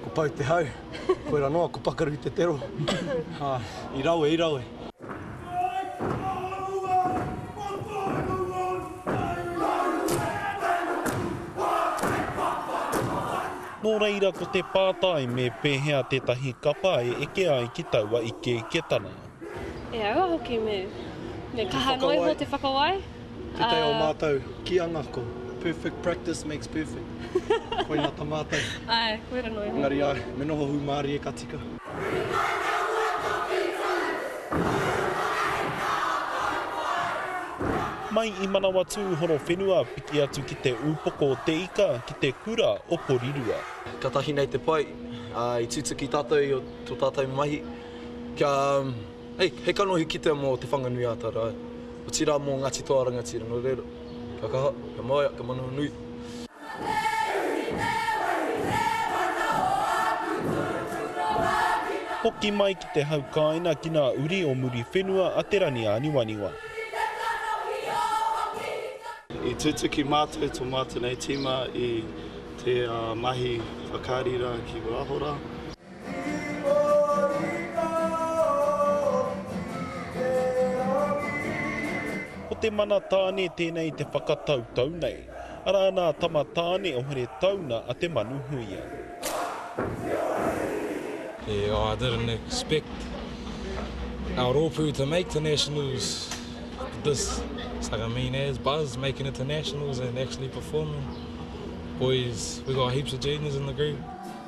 Ko Pou te hau, koira noa, ko Pakaru te tero. I rawe, i rawe. Nō reira ko te pātai me pēhea tētahi kapa e eke ai ki taua ikeiketanga. E aua hoki me, me kaha noa iho te whakawai. Tētahi o mātou kīanga ko perfect practice makes perfect. Koina ta mātou. Ae, koira noa iho. Engari ae, me noho hūmārie ka tika. Mai i Manawatū Horowhenua piki atu ki te Upoko o te Ika ki te Kura o Porirua. Katahi nei te pai, i tutuki tatou i to tatou mahi. Kia, hei, hei kanohi kitea mō Te Whanganui-ā-Tara, otirā mō Ngāti Toa Rangatira nō reira. Kia kaha, kia māia, kia manawa nui. Hoki mai ki te haukaina ki nā uri o Muriwhenua a Te Ranianiwaniwa. I tutuki mātou tō mātou nei tīma i te mahi whakarira ki Wāhora. Ko te mana tāne tēnei te whakatautau nei. Arā nā Tama Tāne o Heretauna a Te Manuhuia. I didn't expect our rōpū to make the nationals but this Sagamine has buzz making it to nationals and actually performing. Boys, we got heaps of genius in the group.